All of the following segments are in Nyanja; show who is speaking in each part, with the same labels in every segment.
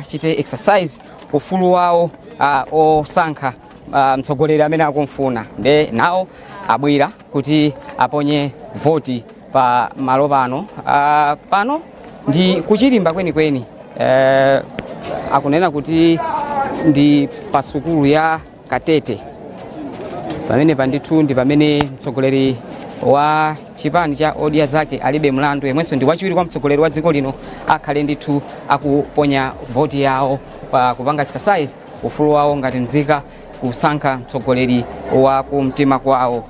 Speaker 1: achite exercise ufulu wawo uh, osankha uh, mtsogoleri amene akumfuna nde nawo abwera kuti aponye voti pa malo pano uh, pano ndi kuchilimba kwenikweni uh, akunena kuti ndi pa sukulu ya katete pamenepa ndithu ndi pamene mtsogoleri wa chipani cha odya zake alibe mlandu yemwenso ndi wachiwiri kwa mtsogoleri wa dziko lino akhale ndithu akuponya voti yawo pa kupanga exercise ufulu wawo ngati nzika kusankha mtsogoleri wa kumtima kwawo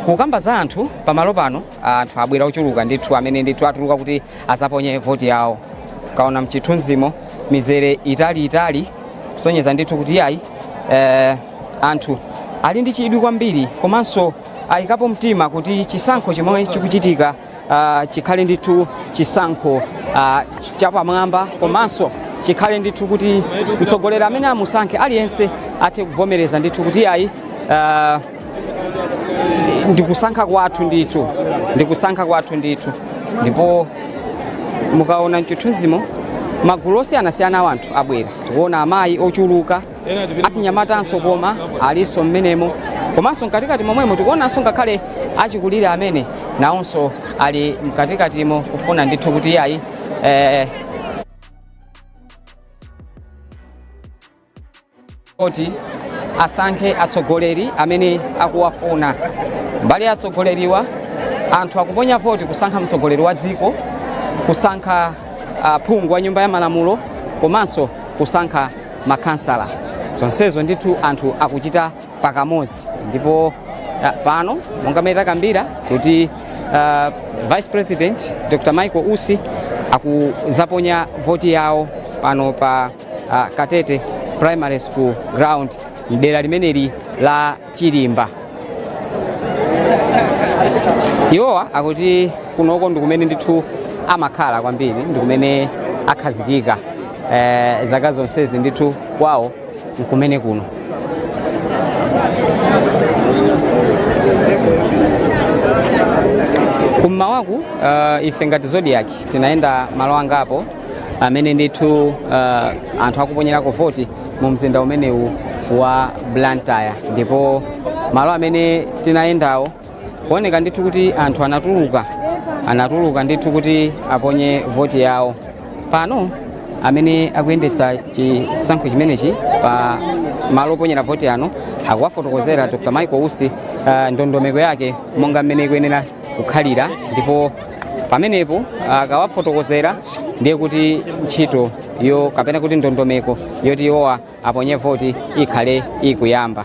Speaker 1: kukamba za anthu pamalo pano anthu abwera ochuluka ndithu amene ndithu atuluka kuti azaponye voti yawo kaona mchithunzimo mizere itali itali kusonyeza ndithu kuti yayi eh, anthu ali ndi chidwi kwambiri komanso ayikapo mtima kuti chisankho chomwe chikuchitika uh, chikhale ndithu chisankho uh, chapamwamba komanso chikhale ndithu kuti mtsogoleri amene amusankhe aliyense athe kuvomereza ndithu kuti yayi uh, ndikusankha kwathu ndithu ndikusankha kwathu ndithu ndipo mukaona mchithunzimo magulu osiyanasiyana a anthu abwera tikuona amayi ochuluka achinyamatanso koma alinso mmenemo komanso mkatikati momwemo tikuonanso ngakhale achikulire amene nawonso ali mkatikatimo kufuna ndithu kuti iyayi eh, kuti asankhe atsogoleri amene akuwafuna mbali ya atsogoleriwa anthu akuponya voti kusankha mtsogoleri wa dziko kusankha ah, phungu wa nyumba ya malamulo komanso kusankha makhansala zonsezo ndithu anthu akuchita pakamodzi ndipo ah, pano monga mmene takambira kuti ah, vice president dr michael usi akuzaponya voti yawo pano pa ah, katete primary school ground mdera limeneli la Chilimba. Iwowa akuti kunoko ndi kumene ndithu amakhala kwambiri ndi kumene akhazikika eh, zaka zonsezi ndithu kwawo nkumene kuno kummawaku uh, ife ngati Zodiak tinayenda malo angapo amene ndithu uh, anthu akuponyerako voti mu mzinda umenewu wa blantyre ndipo malo amene tinayendawo kuoneka ndithu kuti anthu anatuluka anatuluka ndithu kuti aponye voti yawo pano amene akuyendetsa chisankho chimenechi pa malo oponyera voti ano akuwafotokozera dr michael usi uh, ndondomeko yake monga mmene ikuyenera kukhalira ndipo pamenepo akawafotokozera ndiye kuti ntchitoyo kapena kuti ndondomeko yoti iwowa aponye voti ikhale ikuyamba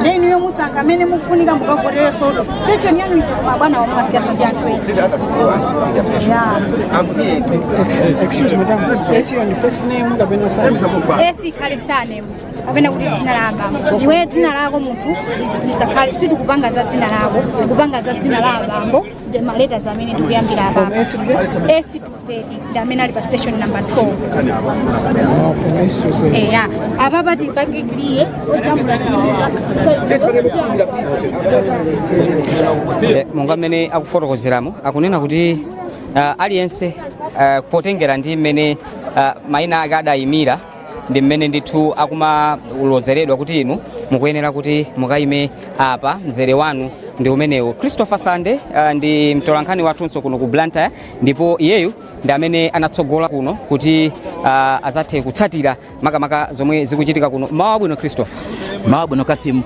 Speaker 2: nde inuyo musankha amene mukufunika mukavotera so to station yanu ija koma abwanawo amasiyaso ndi anthu ena Did others go and do their stations? Yeah. I'm here
Speaker 3: in 2020. Excuse me, madam. Yes. Your first name, kapena surname? S ikhale
Speaker 2: sanemu kapena kuti dzina la abambo iwe dzina lako munthu lis- lisakhale sitikupanga za dzina lako tikupanga za dzina la abambo ndi maleta zamene tikuyambira abambo S to ndi amene ali pa station number 12 eya apapa tipange clear
Speaker 1: ojambula Eh, monga mmene akufotokozeramo akunena kuti ah, aliyense ah, potengera ndi mmene ah, maina ake adayimira ndi mmene ndithu akumalozeredwa kuti inu mukuyenera kuti mukayime apa mzere wanu ndi umenewu christopher sande ah, ndi mtolankhani wathunso kuno ku blantyre ndipo iyeyu ndi amene anatsogola kuno kuti uh, adzathe kutsatira makamaka zomwe zikuchitika kuno mmawa wabwino christopher mmawa wabwino kasimu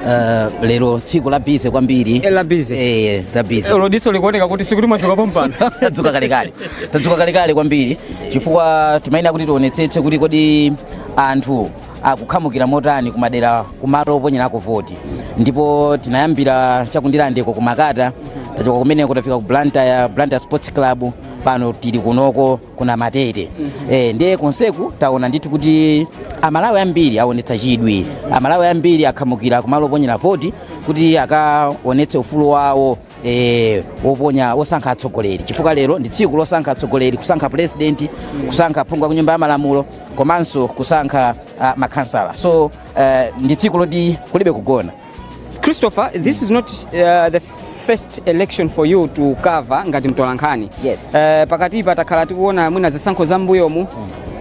Speaker 4: uh, lero tsiku la bize kwambiri eh, la bize eh,
Speaker 1: eh za bize ndipo
Speaker 4: diso likuoneka kuti
Speaker 1: sikuti mwadzuka pompano tadzuka
Speaker 4: kalekale tadzuka kalekale kwambiri chifukwa timayenera kuti tionetsetse kuti kodi anthu akukhamukira motani ku madera kumalo oponyerako voti ndipo tinayambira cha ku ndirandeko ku makata tachoka kumeneko tafika ku blantyre blantyre sports club pano tili kunoko ku namatete eh, ndiye konseku taona ndithu kuti amalawi ambiri aonetsa chidwi amalawi ambiri akhamukira kumalo oponyera voti kuti akaonetse ufulu wawo eh, oponya osankha atsogoleri chifukwa lero ndi tsiku losankha atsogoleri kusankha president kusankha phungu wa ku nyumba ya malamulo komanso kusankha uh, makhansala so uh, ndi tsiku loti kulibe kugona Christopher,
Speaker 1: this is not uh, the first election for you to cover ngati mtolankhani. Yes. Uh,
Speaker 4: pakatipa
Speaker 1: takhala tikuona mwina zisankho za mbuyomu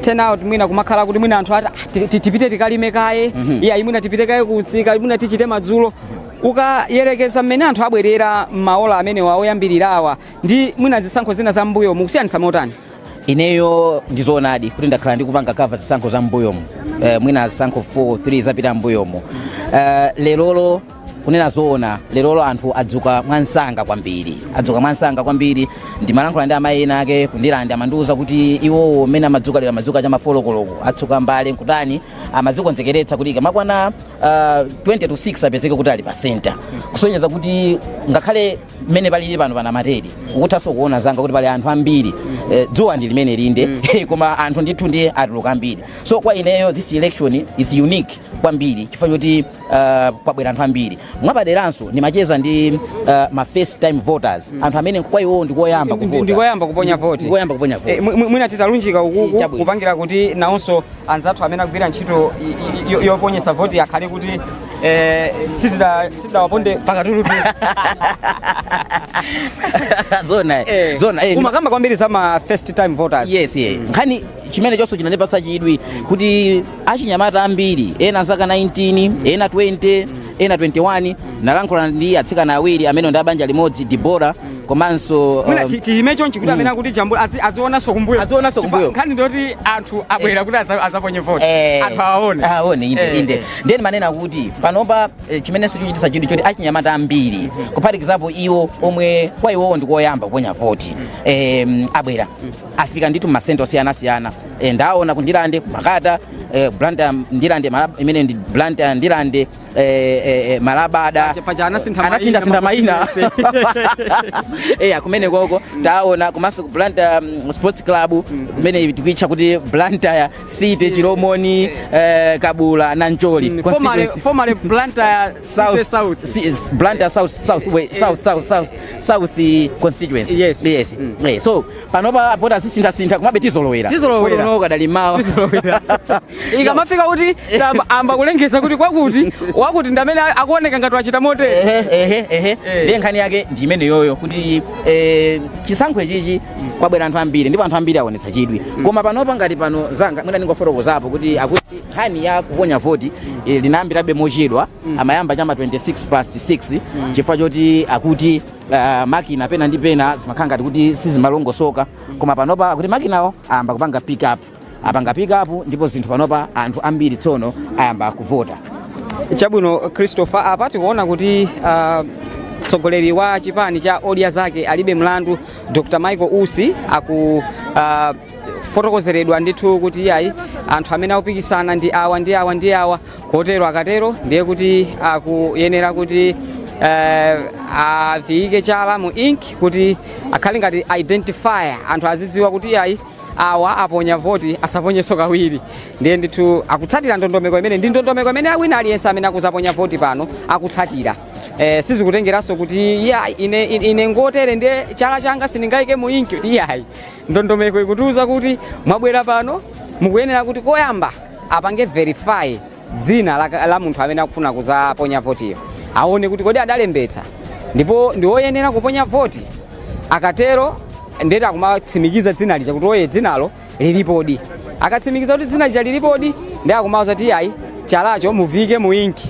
Speaker 1: turn out mwina kumakhala kuti mwina anthu ati "Ah, ti- ti- tipite tikalime kaye iya mwina tipite kaye kumsika mwina tichite madzulo Ukayerekeza mmene anthu abwerera m'maola amenewa oyambirirawa ndi mwina zisankho zina za m'mbuyomu kusiyanitsa motani? Ineyo
Speaker 4: ndizoonadi kuti ndakhala ndikupanga cover zisankho za m'mbuyomu eh, mwina zisankho 4 3 zapita m'mbuyomu eh, lerolo kunena zoona lerolo anthu adzuka mwansanga kwambiri adzuka mwansanga kwambiri ndimalankhula ndi amayi ena ake ku Ndirande amandiuza kuti iwowo mmene amadzuka lero amadzuka cha mafolokoloko atsuka mbale nkutani amadzikonzekeretsa kuti ikamakwana uh, 20 to 6 apezeke kuti ali pa center kusonyeza kuti ngakhale mmene palili pano pana ma TV ukuthanso kuona zanga kuti pali anthu ambiri eh, dzuwa ndi limeneli nde koma anthu ndithu ndiye atuluka ambiri so kwa ineyo this election is unique kwambiri chifukwa choti uh, kwabwera anthu ambiri mwapaderanso ndimacheza ndi uh, ma first time voters anthu amene kwa iwowo ndikoyamba Ndi- ndi- kuvota ndikoyamba kuponya voti.
Speaker 1: ndikoyamba kuponya voti Eh, mwi- mwi- mwina titalunjika ukuku Chabwino. kupangira kuti nawonso anzathu amene agwira ntchito yoponyetsa voti akhale kuti eh, sitidawaponde pakatulu zona eh, zona eh, umakamba kwambiri za ma first time voters yes yeah. mm.
Speaker 4: nkhani chimene chonso chinandipatsa chidwi kuti achinyamata ambiri ena zaka 19 ena 20 mm. ena 21 nalankhula ndi atsikana awiri amene ndi abanja limodzi Debora komanso mwina um, ti- tiyime
Speaker 1: chonchi kuti amene akutijambula azi- azionanso kumbuyo Azionanso Chifukwa kumbuyo. nkhani ndiyoti anthu abwera kuti aza- azaponye voti Eh, anthu awaone aone inde Eh, inde eh. ndiye ndimanena kuti panopa eh, chimenenso chochitisa chidwi choti achinyamata ambiri kuphatikizapo iwo omwe kwa iwowo ndikoyamba kuponya voti eh, abwera afika ndithu m'masenta osiyanasiyana eh, ndaona ku Ndirande ku Makata eh, Blantyre Ndirande Malab- imene ndi Blantyre Ndirande eh, eh, eh, Malabada Paja- paja anasintha mayina, anasintha mayina makosi eya kumene koko taona komanso ku Blantyre um, sports club kumene tikuitcha kuti Blantyre City Chilomoni eh, Kabula Nancholi Mm, formerly- Constituency. formerly Blantyre City South, South. Si- is
Speaker 4: Blantyre South South, way, South South South South eh, constituency. Yes. yes. Mm. Eh, so panopa poti azisinthasintha komabe tizolowera Tizolowera. Poti unowo kadali m'mawa tizolowera ikamafika kuti tamba- amba kulengeza kuti kwakuti wakuti ndamene akuoneka ngati wachita motere Ehe, ehe, ehe. Eh. ndiye nkhani yake ndi imeneyoyo kuti eh, chisankho ichichi kwabwera anthu ambiri ndipo anthu ambiri aonetsa chidwi koma panopa ngati pano zanga mwina ndingofotokozapo kuti akuti nkhani ya kuponya voti eh, inayambirabe mochedwa amayamba chama 26 past 6 chifukwa choti akuti uh, makina pena ndi pena zimakhala ngati kuti sizimalongosoka koma panopa akuti makinawo ayamba kupanga pick up apanga pick up ndipo zinthu panopa anthu ambiri tsono ayamba kuvota chabwino
Speaker 1: christopher apa tikuona kuti uh, mtsogoleri wa chipani cha odya zake alibe mlandu dr michael usi aku uh, fotokozeredwa ndithu kuti iyayi anthu amene akupikisana ndi awa ndi awa ndi awa kotero akatero ndiye kuti akuyenera kuti eh, aviyike chala mu ink kuti akhale ngati identifier anthu azidziwa kuti ayi awa aponya voti asaponyenso kawiri ndiye ndithu akutsatira ndondomeko imene ndi ndondomeko imene wina aliyense amene akuzaponya voti pano akutsatira eh, sizikutengeranso kuti ya ine, ine, ine ngotere ndiye chala changa sindingayike mu ink kuti iyayi ndondomeko ikutiuza kuti mwabwera pano mukuyenera kuti koyamba apange verify dzina la, la munthu amene akufuna kuzaponya votiyo aone kuti kodi adalembetsa ndipo ndi woyenera kuponya voti akatero ndiye kuti akumatsimikiza dzina lija kuti oye dzinalo lilipodi akatsimikiza kuti dzina lija lilipodi nde akumawuza kuti ayi chalacho muvike mu inki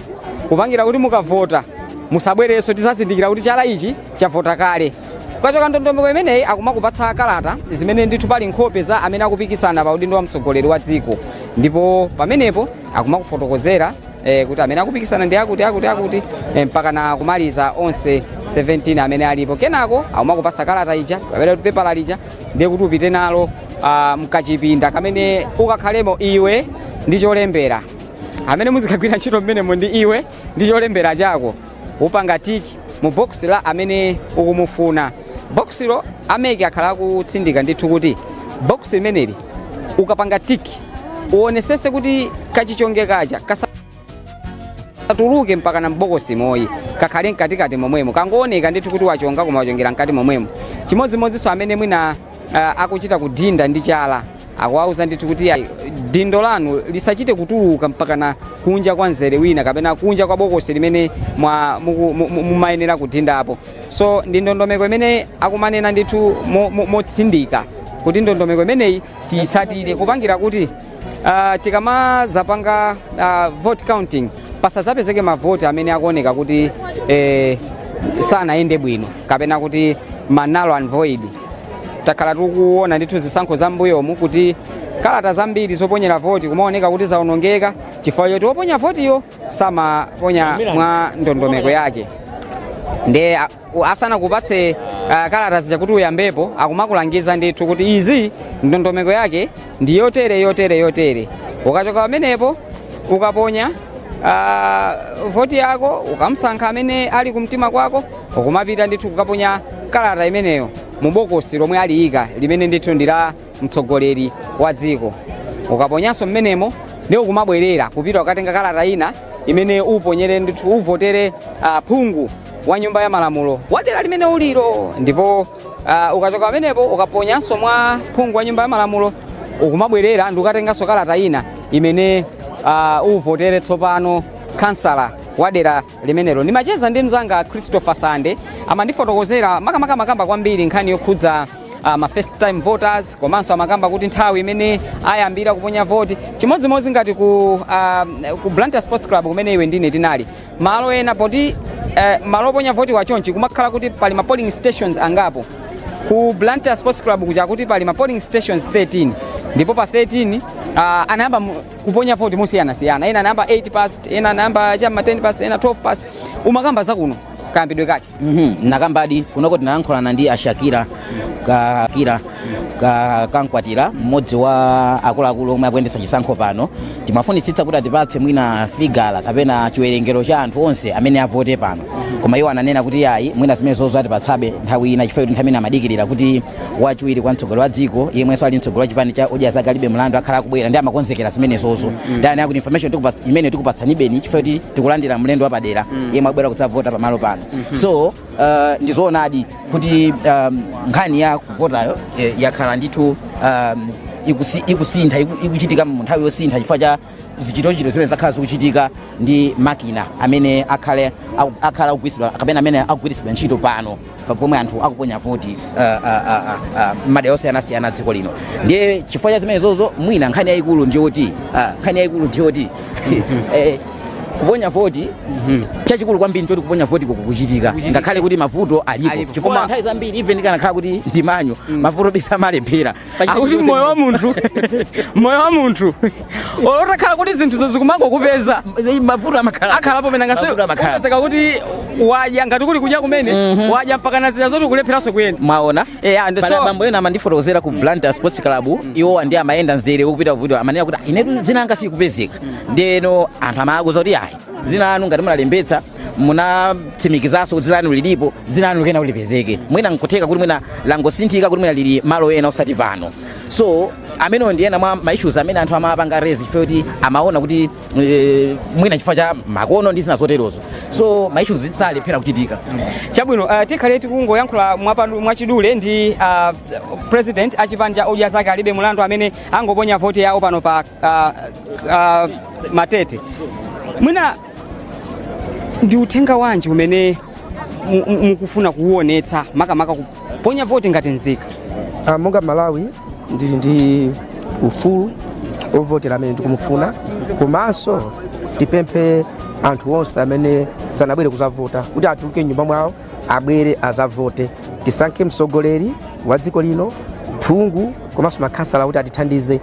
Speaker 1: kupangira kuti mukavota musabwerenso tizazindikira kuti chala ichi chavota kale ukachoka ndondomeko imeneyi akumakupatsa kalata zimene ndithu pali nkhope za amene akupikisana pa udindo wa mtsogoleri wa dziko ndipo pamenepo akumakufotokozera eh, kuti amene akupikisana ndi akuti akuti akuti eh, mpaka na kumaliza onse 17 amene alipo kenako akumakupatsa kalata ija kapena kuti pepala lija ndiye kuti upite nalo ah, mkachipinda kamene ukakhalemo iwe ndi cholembera amene muzikagwira ntchito mmenemo ndi iwe ndi cholembera chako upanga tiki mu box la amene ukumufuna boxilo a MEC akhala akutsindika ndithu kuti box limeneli ukapanga tiki uonesese kuti kachichonge kaja kasatuluke mpaka na mbokosimo ayi kakhale mkatikati momwemo kangooneka ndithu kuti wachonga koma wachongera mkati momwemo chimodzimodzinso amene mwina uh, akuchita kudinda ndi chala Akuwauza ndithu kuti iyayi, dindo lanu lisachite kutuluka mpakana kunja kwa mzere wina kapena kunja kwa bokosi limene mwa- muku- mu- mu- mumayenera kudindapo. So ndi ndondomeko imene akumanena ndithu mo- mo- motsindika kuti ndondomeko imeneyi tiyitsatire kupangira kuti ah, tikamazapanga ah, vote counting pasazapezeke mavoti amene akuoneka kuti eh, sanayende bwino kapena kuti ma null and void takhala tikuona ndithu zisankho za mbuyomu kuti kalata zambiri zoponyera voti kumaoneka kuti zaonongeka chifukwa choti oponya votiyo samaponya mwa ndondomeko yake nde a- u- asanakupatse uh, kalata zija kuti uyambepo akumakulangiza ndithu kuti izi ndondomeko yake ndi yotere yotere yotere ukachoka pamenepo ukaponya uh, voti yako ukamsankha amene ali kumtima kwako ukumapita ndithu kukaponya kalata imeneyo mu bokosi lomwe aliyika limene ndithu ndi la mtsogoleri wa dziko ukaponyanso mmenemo nde ukumabwerera kupita ukatenga kalata ina imene uponyere ndithu uvotere ah, phungu wa nyumba ya malamulo wa dera limene uliro ndipo ah, ukachoka pamenepo ukaponyanso mwa phungu wa nyumba ya malamulo ukumabwerera ndi ukatenganso kalata ina imene ah, uvotere tsopano kansala wa dera limenelo ndimacheza ndi mzanga christopher sande amandifotokozera makamaka amakamba kwambiri nkhani yokhudza uh, ma first time voters komanso amakamba kuti nthawi imene ayambira kuponya voti chimodzimodzi ngati ku, uh, ku blantyre sports club kumene iwe ndine tinali malo ena poti uh, malo oponya voti achonchi kumakhala kuti pali ma polling stations angapo ku blantyre sports club kuja kuti pali ma polling stations 13 ndipo pa 13 uh, anayamba mu- kuponya voti mosiyanasiyana ena anayamba 8 past ena anayamba cha m'ma 10 past ena 12 past umakamba zakuno kayambidwe kake Mhm, nakambadi
Speaker 4: kunoko tinalankhulana ndi ashakira ka kira ka kankwatira mmodzi wa akuluakulu omwe akuyendetsa chisankho pano timafunitsitsa kuti atipatse mwina figala kapena chiwerengero cha anthu onse amene avote pano koma iwo ananena kuti ayi mwina zimene zozo atipatsabe nthawi ina chifukwa kuti nthawi ina amadikirira kuti wachiwiri kwa mtsogoleri wa dziko yemwenso ali mtsogoleri wa chipani cha odya zake alibe mlandu akhala akubwera ndi amakonzekera zimenezozo ndiye anati akuti information tikupatsa- imeneyo tikupatsanibeni chifukwa kuti tikulandira mlendo wapadera yemwe akubwera kudzavota pamalo pano so uh, ndizoonadi kuti um, nkhani ya kuvotayo eh, yakhala ndithu um, ikusi- ikusintha iku- ikuchitika mu nthawi yosintha chifukwa cha zichitochito zimene zakhala zikuchitika ndi makina amene akhale aku- akhala akugwiritsidwa kapena amene akugwiritsidwa ntchito pano pa- pomwe anthu akuponya voti ah, ah, ah, ah, ah, m'madera osiyanasiyana a dziko lino ndiye chifukwa cha zimenezozo mwina nkhani yayikulu ndiyoti ah, nkhani yayikulu ndiyoti eh, kuponya voti chachikulu kwambiri n'choti kuponya voti kukuchitika ngakhale kuti mavuto alipo Alipo. chifukwa Koma- nthawi zambiri even kanakhala kuti ndi manual mavuto bi samalephera akuti moyo
Speaker 1: wa munthu moyo wa munthu olo utakhala kuti zinthuzo zikumangokupeza mavuto amakhala
Speaker 4: akhalapo pena
Speaker 1: Mavuto amakhala. ungazapezeke kuti wadya ngati kuli kudya kumene wadya mpaka kunazila zoti ukulepheranso kuyenda mwaona Eh, and Pala
Speaker 4: so- bambo ena amandifotokozera ku blantyre sports club iwo andi amayenda mzere ukupita kupita amanena kuti "Ah, inetu dzina langa silikupezeka ndiyeno anthu amawauza kuti ayi dzina lanu ngati munalembetsa munatsimikizanso kuti dzina lanu lilipo dzina lanu likuyenera kuti lipezeke mwina nkutheka kuti mwina langosinthika kuti mwina lili malo ena osati pano so amenewo ndi ena mwa ma issues amene anthu amapanga raise chifukwa kuti amaona kuti eh, mwina chifukwa cha makono ndi zina zoterozo so ma issues salephera kuchitika chabwino
Speaker 1: uh, tikhale tikungoyankhula mwapadu- mwachidule ndi uh, president wa chipani cha odya zake alibe mlandu amene angoponya voti yawo pano pa uh, uh, matete mwina ndi uthenga wanji umene mu- mu- mukufuna kuwuonetsa makamaka kuponya voti ngati nzika Ah, monga mmalawi
Speaker 5: ndili ndi ufulu ovotera amene ndikumufuna komanso tipemphe anthu onse amene sanabwere kuzavota kuti atuluke m'nyumba mwawo abwere azavote tisankhe mtsogoleri wa dziko lino phungu komanso makhansala kuti atithandize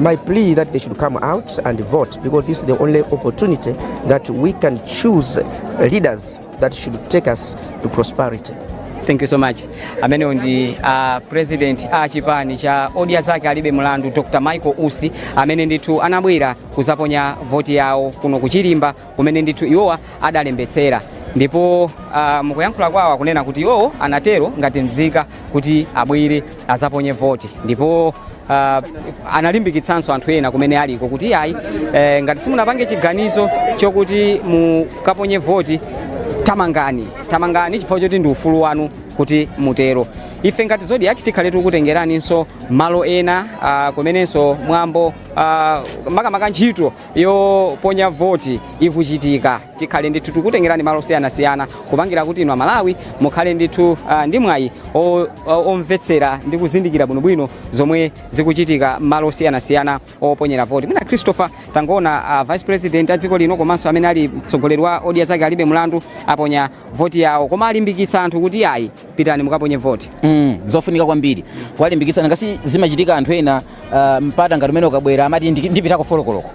Speaker 1: My
Speaker 5: plea that they should come out and vote because this is the only opportunity that we can choose leaders that should take us to prosperity. thank you so
Speaker 1: much amenewo ndi a president a chipani cha odya zake alibe mlandu dr michael usi amene ndithu anabwera kuzaponya voti yawo kuno ku chirimba kumene ndithu iwowa adalembetsera ndipo uh, mukuyankhula kwawo akunena kuti iwowo anatero ngati mzika kuti abwere adzaponye voti ndipo uh, analimbikitsanso anthu ena kumene aliko kuti ayi eh, ngati simunapange chiganizo chokuti mukaponye voti tamangani tamangani chifukwa choti ndi ufulu wanu kuti mutero ife ngati zodiac tikhale tikutengeraninso malo ena uh, kumenenso mwambo uh, makamaka ntchito yoponya voti ikuchitika tikhale ndithu tikutengerani malo osiyanasiyana kupangira kuti inu amalawi mukhale ndithu ah, ndi mwayi o- o- omvetsera ndi kuzindikira bwinobwino zomwe zikuchitika malo osiyanasiyana oponyera voti mwina christopher tangoona ah, vice president a dziko lino komanso amene ali mtsogoleri wa odya zake alibe mlandu aponya voti yawo koma alimbikitsa anthu kuti ayi pitani mukaponye voti mm, zofunika kwambiri
Speaker 4: kuwalimbikitsa ngati zimachitika anthu ena ah, mpata ngati umene ukabwera amati ndi- ndipitako folo koloko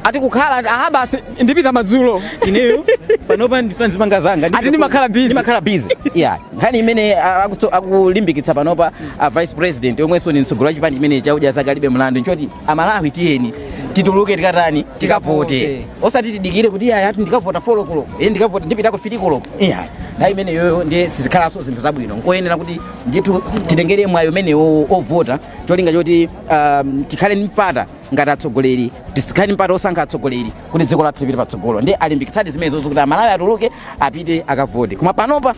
Speaker 4: ati
Speaker 1: kukhala aha basi ndipita madzulo
Speaker 4: ineyo panopa ndifuna ndizipanga zanga Ati ndimakhala busy. ndimakhala
Speaker 1: busy yeah nkhani imene
Speaker 4: ah, akutso- akulimbikitsa panopa a vice president omwenso ni mtsogoleri wa chipani chimene cha odya zake alibe mlandu nchoti amalawi tiyeni tituluke tikatani tikavote Tikavote. osati tidikire kuti aya ati ndikavota folo koloko e ndikavota ndipitako fili koloko yeah nthawi imeneyoyo ndiye sizikhalanso zinthu zabwino nkoyenera kuti ndithu titengere mwayi umenewo ovota cholinga choti um, tikhale ndi mpata ngati atsogoleri tikhale ndi mpata osankha atsogoleri kuti dziko lathu lipite patsogolo ndi alimbikitsadi zimenezozo kuti amalawi atuluke apite akavote koma panopa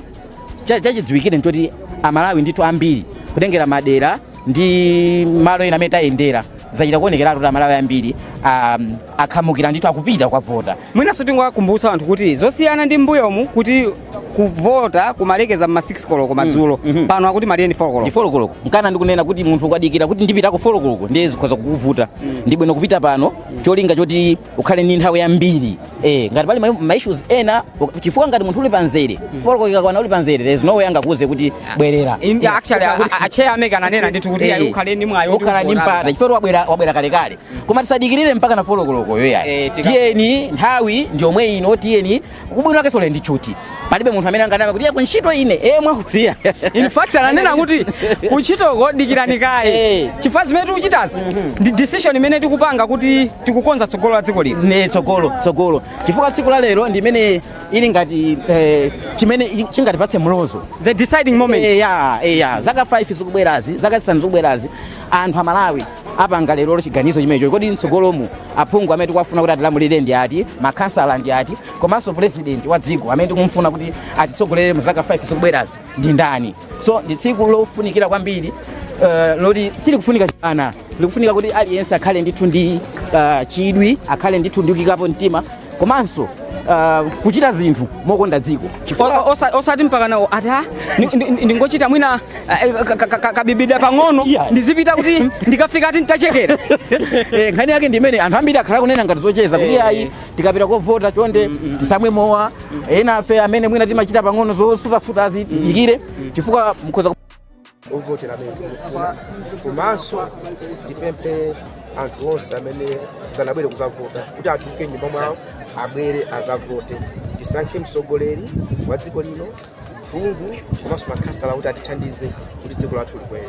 Speaker 4: cha- chachidziwikire nchoti amalawi ndithu ambiri kutengera madera ndi malo ena amene tayendera zachita kuonekeratu kuti amalawi ambiri um, akhamukira ndithu akupita kukavota Mwinanso
Speaker 1: tingowakumbutsa anthu kuti zosiyana ndi m'mbuyomu kuti kuvota kumalekeza mma 6 koloko madzulo pano akuti malire ndi 4 koloko ndi 4 koloko nchifukwa
Speaker 4: ndikunena kuti munthu ukadikira kuti ndipitako 4 koloko ndiye zikhoza kukuvuta ndi bwino kupita pano cholinga choti ukhale ndi nthawi yambiri eh ngati pali ma- ma issues ena uk- chifukwa ngati munthu uli pamzere 4 koloko ikakwana uli pamzere there's no way angakuuze kuti bwerera In- actually a- a-
Speaker 1: a chair a MEC ananena ndithu kuti ayi ukhale ndi mwayi woti ukhala ndi uvotapo. mpata chifukwa
Speaker 4: wabwera wabwera kalekale koma tisadikirire mpaka na folo kolokoyo ayi Eh, tika- tiyeni nthawi ndi yomwe ino tiyeni ubwino wake tsiku la lero ndi tchuthi palibe munthu amene anganama kuti ayi kuntchito ine eh mwakuliya in fact ananena
Speaker 1: kuti kuntchito kudikire kaye Eh. chifukwa zimene tikuchitazi ndi decision imene tikupanga kuti tikukonza tsogolo la dziko lino ne tsogolo
Speaker 4: tsogolo chifukwa tsiku la lero ndi imene ili ngati eh, chimene i- chingatipatse mlozo the deciding moment
Speaker 1: Eh, ya eh, ya zaka
Speaker 4: 5 zikubwerazi zaka zisanu zikubwerazi anthu amalawi apanga lerolo chiganizo chimenecho kodi mtsogolomu aphungu amene tikuwafuna kuti atilamulire ndi ati makhansala ndi ati komanso purezidenti wa dziko amene tikumfuna kuti atitsogolere mu zaka 5 zikubwerazi ndi ndani so ndi tsiku lofunikira kwambiri uh, loti silikufunika chibwana likufunika kuti aliyense akhale ndithu ndi uh, chidwi akhale ndithu ndi kuyikapo mtima komanso uh, kuchita zinthu mokonda dziko O- osa-
Speaker 1: osati mpaka nawo ati "Ah, ni- ni- ni- ndingochita mwina eh, ka- ka- ka- kabibida pang'ono Yeah. ndizipita kuti ndikafika ati nditachekera Eh,
Speaker 4: nkhani yake ndi imene anthu ambiri akhala akunena ngati zocheza kuti Eh. ayi tikapita kovota chonde tisamwe mowa enafe amene mwina timachita pang'ono zosutasuta zitidikire chifukwa mukhoza
Speaker 5: ovotera amene tikufuna komanso tipemphe anthu onse amene sanabwere kuzavota kuti atuluke m'nyumba mwawo abwere azavote tisankhe mtsogoleri wa dziko lino phungu komanso makhansala kuti atithandize kuti dziko lathu likwere